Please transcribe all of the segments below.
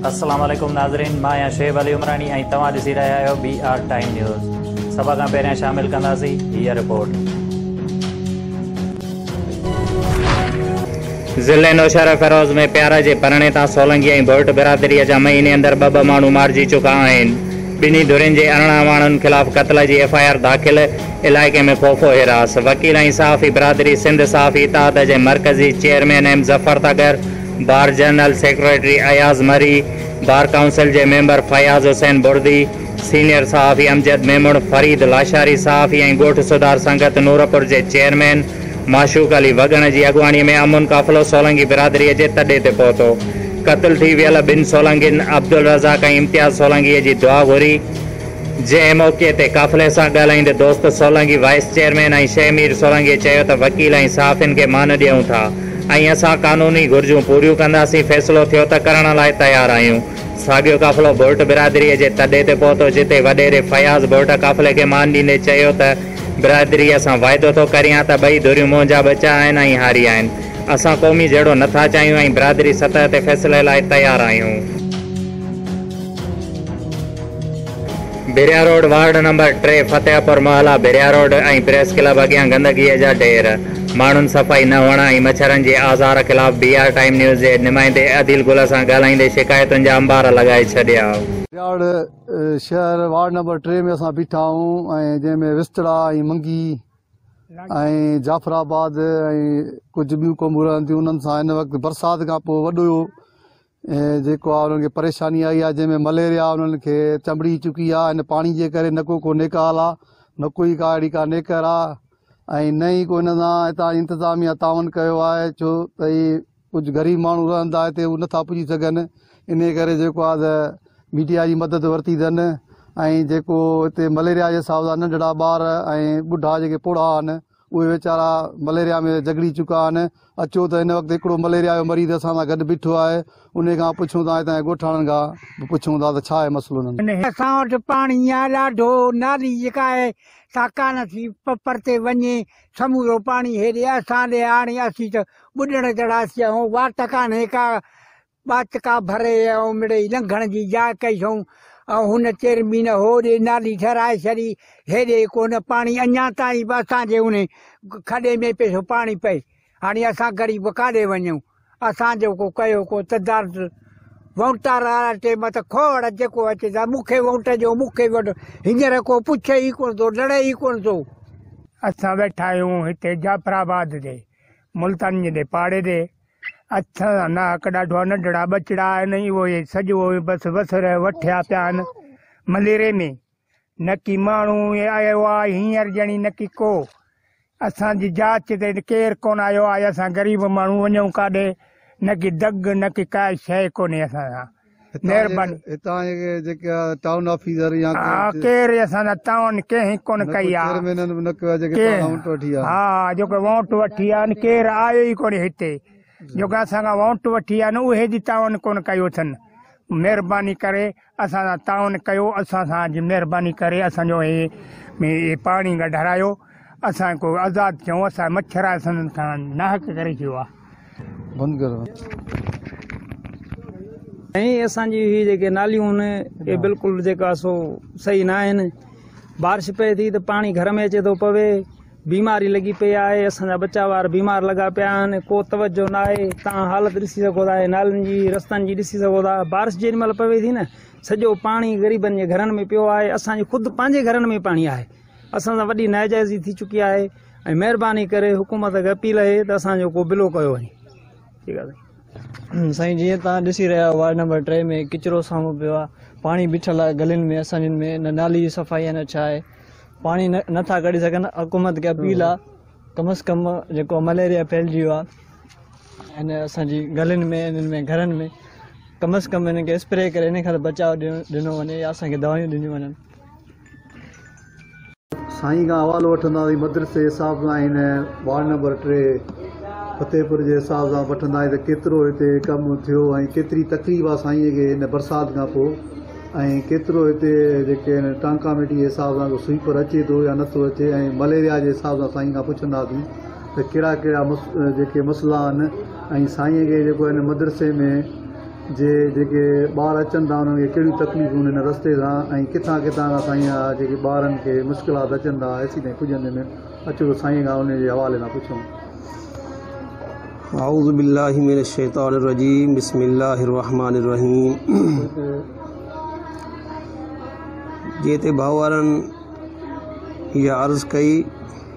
السلام عليڪم ناظرين مان آهيان شعيب علي عمراڻي ۽ توهان ڏسي رهيا آهيو بي آر ٽائيم نيوز سڀ کان پهريان شامل ڪنداسين هيء رپورٽ ضلعي نوشهره فيروز ۾ پيارا جي پرڻي تان سولنگي ۽ ڀوئٽ برادري جا مهيني اندر ٻه ٻه ماڻهو مارجي چڪا آهن. ٻنهي ڌرين جي ارڙهن اواڻن خلاف قتل جي ايف آء آر داخل، علائقي ۾ خوف و حراس، وڪيل ۽ صحافي برادري سنڌ صحافي اتحاد جي مرڪزي chairman M Zafar Tagar, bar general secretary Ayaz Marri, bar council جي ميمبر فياض حسين بڙدي، سينيئر صحافي امجد ميمڻ، فريد لاشاري صحافي ۽ ڳوٺ سڌار سنگت نورپور جي چيئرمين معشوق علي وڳڻ جي اڳواڻي ۾ امن قافلو سولنگي برادري جي تڏي تي پهتو قتل ٿي ويل ٻن سولنگين عبدالرزاق ۽ امتياز سولنگي جي دعا گهري جنهن موقعي تي قافلي سان ڳالهائيندي دوست سولنگي وائيس چيئرمين ۽ شيخ مير سولنگي چيو ته وڪيل ۽ صحافين کي مان ڏيون ٿا ۽ اسان قانوني گهرجون پوريون ڪنداسين فيصلو ٿيو ته ڪرڻ لاء تيار آهيون. ساڳيو قافلو ڀرٽ برادري جي تڏي تي پهتو جتي وڏيري فياض ڀرٽ قافلي کي مان ڏيندي چيو ته برادريء سان واعدو ٿو ڪريان ته ٻئي ڌريون منهنجا ٻچا آهن ۽ هاري آهن اسان قومي جهيڙو نه ٿا چاهيون ۽ برادري سطح تي فيصلي لاء تيار آهيون. ڀريا روڊ وارڊ نمبر ٽي فتح پور محلا ڀريا روڊ ۽ پريس ڪلب اڳيان گندگيء جا ڍير، ماڻهن صفائي نه هئڻ ۽ مڇرن جي آزار خلاف بي آر ٽائيم نيوز جي نمائندي عديل گل سان ڳالهائيندي شڪايتن جا انبار لڳائي ڇڏيا. ڀرياڙ شهر وارڊ نمبر ٽي ۾ اسان بيٺا آهيون ۽ جنهن ۾ وستڙا ۽ منگي ۽ جعفر آباد ۽ ڪجهه ٻيون قومون رهن ٿيون انهن سان هن وقت برسات کان پوء وڏو جيڪو آهي انهن کي پريشاني آئي آهي جنهن ۾ مليريا انهن کي چنبڙي چڪي آهي ان پاڻي جي ڪري نه ڪو ڪو نيڪ حال آهي نه ڪوئي ڪا اهڙي ڪا نيڪر آهي ۽ نه ئي ڪو ان سان هتان جي انتظاميا تعاون ڪيو آهي ڇو ته هي ڪجهه غريب ماڻهو رهندا هتي هو نٿا پڄي سگهن انهي ڪري جيڪو آهي ميڊيا جي مدد ورتي اٿن ۽ جيڪو هتي مليريا جي حساب سان ننڍڙا ٻار ۽ ٻڍا جيڪي پوڙها آهن اهي ويچارا مليريا ۾ جهڳڙي چڪا آهن. اچو ته هن وقت هڪڙو مليريا جو مريض اسان سان گڏ بيٺو آهي. انهي کان پڇون ٿا، هتان جي ڳوٺاڻن کان به پڇون ٿا ته ڇا آهي مسئلو انهن جو؟ اسان وٽ پاڻي يا ڏاڍو نالي جيڪا آهي سا ڪانه ٿي پرتي وڃي. سمورو پاڻي هيڏي اسان ڏي آڻي اسين ته ٻڏڻ جهڙا ٿي ويا آهيون. واٽ ڪانهي ڪا. ٻاچڪا ڀري ۽ امڙي لنگهڻ جي جاء ڪئي ٿئون ۽ هن چيرمين هوڏي نالي ٺهرائي ڇڏي، هيڏي ڪونه پاڻي اڃا تائين به اسان جي انهي کڏي ۾ پئي ٿو پاڻي پئي، هاڻي اسان غريب ڪاڏي وڃون؟ اسان جو ڪو ڪيو ڪو تدارت وونٽار وارا چي مت کوڙ جيڪو اچي ٿا مون کي وونٽ ڏيو مون کي وونٽ هينئر ڪو پڇي ئي ڪونه ٿو لڙي ئي ڪونه ٿو. اسان ويٺا آهيون هتي جعفر آباد تي ملتان جي پاڙي تي اٿ انا ڪ ڏاڍو ننڍڙا ٻچڙا آهن ۽ اهي سڄو بس وسر وٺيا پيا آهن مليري ۾ نڪي ماڻهو آيو آهي هينئر ڄڻي نڪي ڪو اسان جي جاچ تي ڪير ڪون آيو آهي اسان غريب ماڻهو وڃون ڪاڏي نڪي دڳ نڪي ڪا شيء ڪونهي اسان سان مھرباني. ھتان جي جيڪي ٽائون آفيسر يا ھا ڪير اي اسان جا ٽائون ڪنھن ڪون ڪئي آ چيئرمينن به نه ڪيو آ جيڪي پاڻ وونٽ وٺي آ ھا جيڪي وونٽ وٺي آ ان ڪير آيو ئي ڪونھي ھتي جيڪي اسان کان وونٽ وٺي آ اھي جي ٽائون ڪون ڪيو اٿن مھرباني ڪري اسان سان ٽائون ڪيو اسان سان جي مھرباني ڪري اسان جو ھي پاڻي ڪڍرايو. اسان کي ڪو آزاد ڪيون اسان مڇر آهي سندن کان ناحق ڪري ڇو آ بند ڪرو ۽ اسان جي هي جيڪي ناليون آهن اي بلڪل جيڪا سو صحيح نه آهن بارش پئي ٿي ته پاڻي گهر ۾ اچي ٿو پوي بيماري لڳي پئي آهي اسان جا ٻچا وار بيمار لڳا پيا آهن ڪو توجه نه آهي تان حالت ڏسي سگهو ٿا نالين جي رستن جي ڏسي سگهو ٿا بارش جيڏي مهل پوي ٿي نه سڄو پاڻي غريبن جي گهرن ۾ پيو آهي اسان جي خود پنهنجي گهرن ۾ پاڻي آهي اسان سان وڏي ناجائزي ٿي چڪي آهي ۽ مهرباني ڪري حڪومت کي اپيل آهي ته اسان جو ڪو بلو ڪيو وڃي ٺيڪ آهي سائين جيئن تان ڏسي رهيا آهيو وارڊ نمبر ٽي ۾ ڪچرو سامو پيو آهي پاڻي بيٺل آهي گلين ۾ اسان جن ۾ نه نالي جي صفائي آهي نه ڇا آهي پاڻي نٿا ڪڍي سگهن حڪومت کي اپيل آهي ڪم از ڪم جيڪو مليريا ڦهلجي ويو آهي ان اسان جي گلين ۾ انهن ۾ گهرن ۾ ڪم از ڪم انهن کي اسپري ڪري ان کان بچاء ڏنو وڃي يا اسان کي دوائيون ڏنيون وڃن سائين کان حوالو وٺنداسين مدرسي حساب سان ۽ وارڊ نمبر ٽي فتحپور جي حساب سان وٺنداسين ته ڪيترو هتي ڪم ٿيو ۽ ڪيتري تڪليف آ سائين کي هن برسات کان پوء ۽ ڪيترو هتي جيڪي آهن ٽانڪاميٽي جي حساب سان ڪو سوئيپر اچي ٿو يا نٿو اچي ۽ مليريا جي حساب سان سائين کان پڇنداسين ته ڪهڙا ڪهڙا جيڪي مسئلا آهن ۽ سائين کي جيڪو هن مدرسي ۾ جي جيڪي ٻار اچن ٿا انهن کي ڪهڙيون تڪليفون هن رستي سان ۽ ڪٿان ڪٿان کان سائين اها جيڪي ٻارن کي مشڪلات اچن ٿا ايسي تائين پڄندي ۾ اچو ته سائين کان انهي جي حوالي سان پڇون. اعوذ بالله من الشيطان الرجيم بسم الله الرحمن الرحيم جي تي ڀائوارن اها عرض ڪئي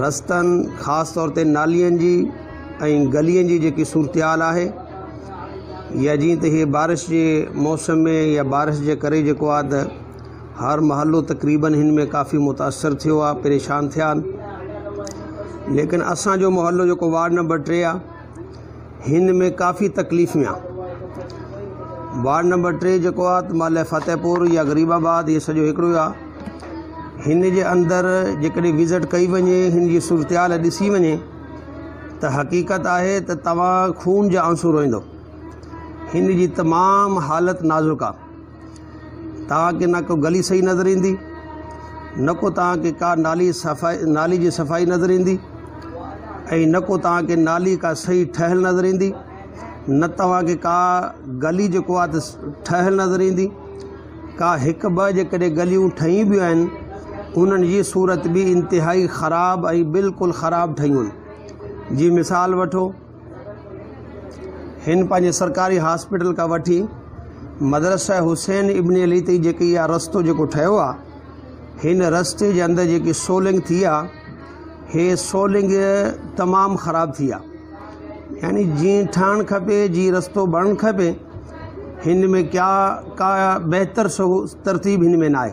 رستن خاص طور تي نالين جي ۽ گلين جي جيڪي صورتحال آهي يا جيئن ته هي بارش جي موسم ۾ يا بارش جي ڪري جيڪو آهي ته هر محلو تقريباً هن ۾ ڪافي متاثر ٿيو آهي پريشان ٿيا آهن ليڪن اسانجو محلو جيڪو وارڊ نمبر ٽي آهي هن ۾ ڪافي تڪليف ۾ آ وارڊ نمبر ٽي جيڪو آ ته مالهي فتح پور يا غريب آباد هي سڄو هڪڙو آ هن جي اندر جيڪڏهن وزٽ ڪئي وڃي هن جي صورتحال ڏسي وڃي ته حقيقت آهي ته توهان خون جا آنسو روئندو هن جي تمام حالت نازڪ آ توهان کي نه ڪو گلي صحيح نظر ايندي نه ڪو توهان کي ڪا نالي صفائي نالي جي صفائي نظر ايندي ۽ نه ڪو توهان کي نالي ڪا صحيح ٺهيل نظر ايندي نه توهان کي ڪا گلي جيڪو آ ته ٺهيل نظر ايندي ڪا هڪ ٻه جيڪڏهن گليون ٺهي به آهن انهن جي صورت به انتهائي خراب ۽ بلڪل خراب ٺهيون جي مثال وٺو هن پنهنجي سرڪاري هاسپيٽل کان وٺي مدرسه حسين ابن علي تي جيڪي اها رستو جيڪو ٺهيو آ هن رستي جي اندر جيڪي سولنگ ٿي آ هي سولنگ تمام خراب ٿي آ يعني جي ٺهڻ کپي جي رستو بڻن کپي هن ۾ ڪيا ڪا بهتر ترتيب هن ۾ ناهي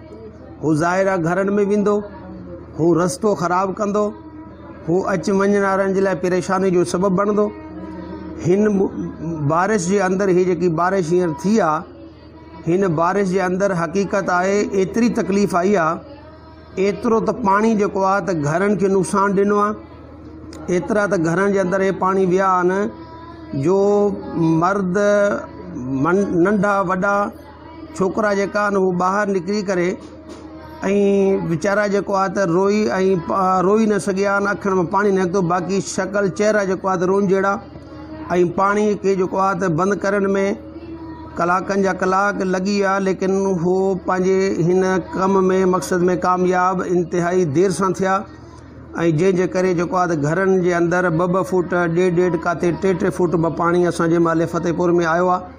هو ظاهرا گهرن ۾ ويندو، هو رستو خراب ڪندو، هو اچ وڃڻ وارن جي لاء پريشاني جو سبب بڻندو. هن بارش جي اندر هي جيڪي بارش هينئر ٿي آ، هن بارش جي اندر حقيقت آهي ايتري تڪليف آئي آ، ايترو ته پاڻي جيڪو آ ته گهرن کي نقصان ڏنو آ، ايترا ته گهرن جي اندر هي پاڻي ويا آهن جو مرد ننڍا وڏا، ڇوڪرا جيڪا آهن هو ٻاهر نڪري ڪري ۽ ويچارا جيڪو آهي ته روئي ۽ روئي نه سگهيا آهن اکين ۾ پاڻي نڪتو باقي شڪل چهرا جيڪو آهي ته روئن جهڙا ۽ پاڻي کي جيڪو آهي ته بند ڪرڻ ۾ ڪلاڪن جا ڪلاڪ لڳي ويا ليڪن هو پنهنجي هن ڪم ۾ مقصد ۾ ڪامياب انتهائي دير سان ٿيا ۽ جنهن جي ڪري جيڪو آهي ته گهرن جي اندر ٻه ٻه فوٽ ڏيڍ ڏيڍ ڪاتي ٽي ٽي فوٽ به پاڻي اسان جنهن مهل فتح پور ۾ آيو آهي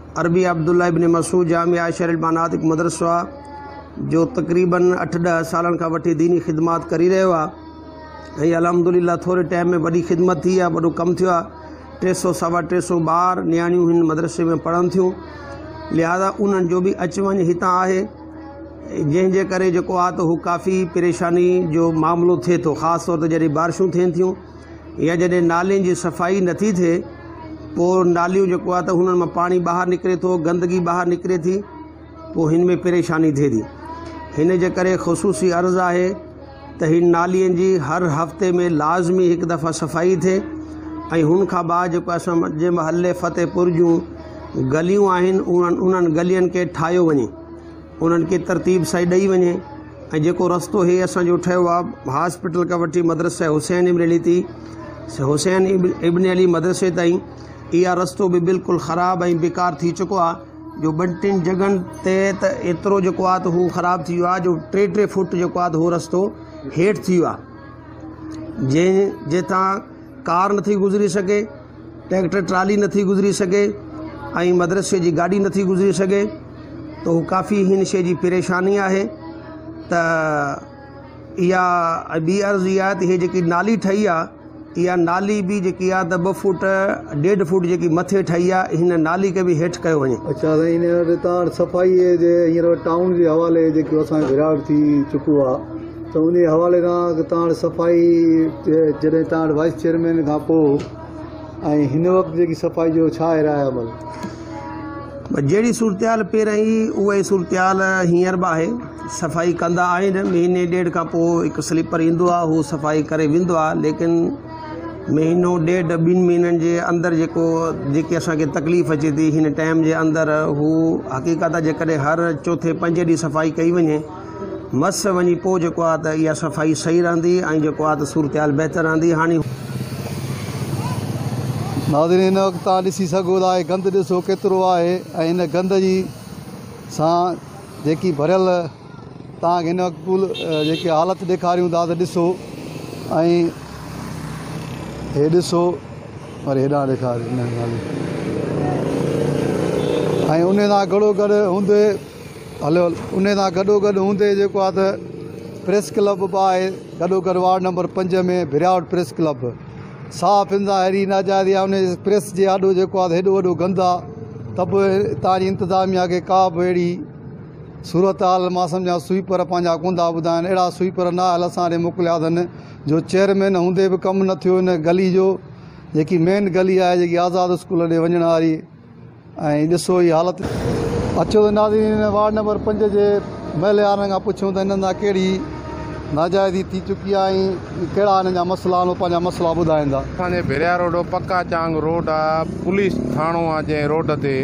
عربي عبدالله ابن مسعود جامع عائشه للبنات مدرسو آ جو تقريبن اٺ ڏهه سالن کان وٺي ديني خدمات ڪري رهيو آ ۽ الحمدلله ٿوري ٽائيم ۾ وڏي خدمت ٿي آ وڏو ڪم ٿيو آ ٽي سو سوا ٽي سو ٻار نياڻيون هن مدرسي ۾ پڙهن ٿيون لهذا انهن جو به اچ وڃ هتان آهي جنهن جي ڪري جيڪو آ ته هو ڪافي پريشاني جو معاملو ٿئي ٿو خاص طور تي جڏهن بارشون ٿين ٿيون يا جڏهن نالين جي صفائي نٿي ٿئي پوء ناليون جيڪو آهي ته هنن مان پاڻي ٻاهر نڪري ٿو گندگي ٻاهر نڪري ٿي پوء هن ۾ پريشاني ٿئي ٿي هن جي ڪري خصوصي عرض آهي ته هن نالين جي هر هفتي ۾ لازمي هڪ دفعه صفائي ٿئي ۽ هن کان بعد جيڪو اسان جي محلي فتح پور جون گليون آهن انهن انهن گلين کي ٺاهيو وڃي انهن کي ترتيب سائي ڏئي وڃي ۽ جيڪو رستو هي اسان جو ٺهيو آ هاسپيٽل کان وٺي مدرسه حسين ابن علي تي حسين ابن علي مدرسي تائين اها رستو به بلڪل خراب ۽ بيڪار ٿي چڪو آ جو ٻن ٽن جڳهن تي ته ايترو جيڪو آ ته هو خراب ٿي ويو آ جو ٽي ٽي فوٽ جيڪو آ ته هو رستو هيٺ ٿي ويو آ جنهن جي تان ڪار نٿي گذري سگهي، ٽريڪٽر ٽرالي نٿي گذري سگهي ۽ مدرسي جي گاڏي نٿي گذري سگهي ته هو ڪافي هن شيء جي پريشاني آهي ته اها ۽ ٻي عرض اها آهي ته هي جيڪي نالي ٺهي آهي اها نالي به جيڪي آهي ته ٻه فوٽ ڏيڍ فوٽ جيڪي مٿي ٺهي آهي هن نالي کي به هيٺ ڪيو وڃي. اڇا سائين هن وٽ تان وٽ صفائي جي هينئر ٽائون جي حوالي جيڪو اسان کي گهراٽ ٿي چڪو آهي ته انهيء حوالي کان اڳ تان وٽ صفائي جڏهن تان وٽ وائيس چيئرمين کان پوء ۽ هن وقت جيڪي صفائي جو ڇا آهي راء عمل؟ بس جهڙي صورتحال پهرئين هئي اها ئي صورتحال هينئر به آهي. صفائي ڪندا آهن، مهيني ڏيڍ کان پوء هڪ سليپر ايندو آهي هو صفائي ڪري ويندو آهي ليڪن مهينو ڏيڍ ٻن مهينن جي اندر جيڪو جيڪي اسان کي تڪليف اچي ٿي هن ٽائيم جي اندر هو حقيقت جيڪڏهن هر چوٿين پنجين ڏينهن صفائي ڪئي وڃي مس وڃي پوء جيڪو آهي ته اها صفائي صحيح رهندي ۽ جيڪو آهي ته صورتحال بهتر رهندي هاڻي هو. ناظرين هن وقت توهان ڏسي سگهو ٿا هي گند ڏسو ڪيترو آهي ۽ هن گند جي سان جيڪي ڀريل توهان کي هن وقت پول جيڪي حالت ڏيکاريون ٿا ته ڏسو ۽ هي ڏسو وري هيڏانهن ڏيکار ۽ انهي سان گهڙو گڏ هوندي انهي سان گڏو گڏ هوندي جيڪو آهي ته پريس ڪلب به آهي گڏو گڏ وارڊ نمبر پنج ۾ ڀريائوٽ پريس ڪلب به صحافين سان اهڙي ناجائزي آهي انهي پريس جي آڏو جيڪو آهي هيڏو وڏو گند آهي ته به هتان جي انتظاميا کي ڪا به اهڙي صورتحال مان سمجهان سوئيپر پنهنجا ڪونه ٿا ٻڌائين اهڙا سوئيپر نااهل اسان ڏي موڪليا اٿن جو چيئرمين هوندي به ڪم نه ٿيو ان گلي جو جيڪي مين گلي آهي جيڪي آزاد اسڪول ڏي وڃڻ واري ۽ ڏسو هي حالت. اچو ته ناظرين وارڊ نمبر پنج جي محليارن کان پڇون ته هنن سان ڪهڙي ناجائزي ٿي چڪي آهي ۽ ڪهڙا هنن جا مسئلا آهن اهو پنهنجا مسئلا ٻڌائيندا. اسان جي ڀيريا روڊ پڪا چانگ روڊ آ پوليس ٿاڻو آ جنهن روڊ تي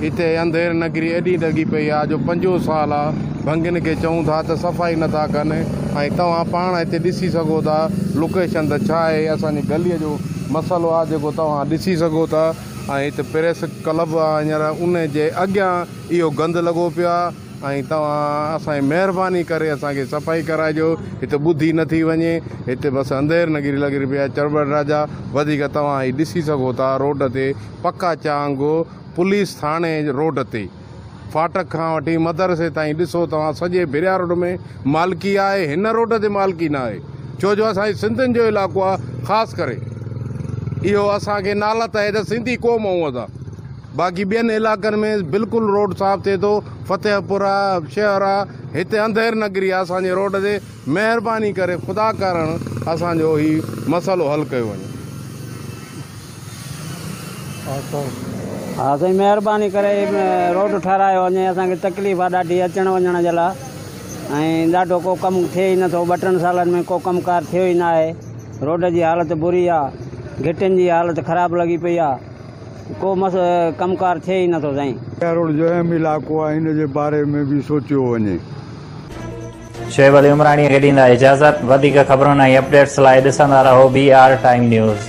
اتي انڌير نگري ايڏي ڊگهي پئي آ جو پنجون سال آ ڀنگين کي چئون ٿا ته صفائي نٿا ڪن ۽ توهان پاڻ اتي ڏسي سگهو ٿا لوڪيشن ته ڇا آهي اسان جي گلي جو مسئلو آ جيڪو توهان ڏسي سگهو ٿا. ۽ هت پريس ڪلب آ هينئر ان جي اڳيان اهو گند لڳو پيو آ ۽ توهان اسان جي مهرباني ڪري اسان کي صفائي ڪرائجو هت ٻڌي نه ٿي وڃي هت بس انڌير نگري لڳري پئي آ چرٻر راجا وڌيڪ توهان هي ڏسي سگهو ٿا روڊ تي پڪا چانگ پوليس ٿاڻي روڊ تي. ڦاٽڪ کان وٺي مدرسي تائين ڏسو توهان سڄي ڀريا روڊ ۾ مالڪي آهي هن روڊ تي مالڪي نه آهي ڇو جو اسان جي سنڌين جو علائقو آهي خاص ڪري اهو اسان کي نالت آهي ته سنڌي قوم آهون اسان باقي ٻين علائقن ۾ بلڪل روڊ صاف ٿئي ٿو فتح پور آهي شهر آهي هتي انڌير نگري آهي اسان جي روڊ تي مهرباني ڪري خدا ڪارڻ اسان جو هي مسئلو حل ڪيو وڃي ها سائين مهرباني ڪري روڊ ٺهرايو وڃي اسان کي تڪليف آ ڏاڍي اچڻ وڃڻ جي لا ۽ ڏاڍو ڪو ڪم ٿئي ئي نٿو ٻه ٽن سالن ۾ ڪو ڪم ڪار ٿيو ئي ناهي روڊ جي حالت بري آ گهٽين جي حالت خراب لڳي پئي آ ڪو مس ڪم ڪار ٿئي ئي نٿو سائين. ڪيروڙ جو اهم علائقو آهي ان جي باري ۾ به سوچيو وڃي. شعيب علي عمراڻيء کي ڏيندا اجازت. وڌيڪ خبرن ۽ اپڊيٽس لاء ڏسندا رهو بي آر ٽائيم نيوز.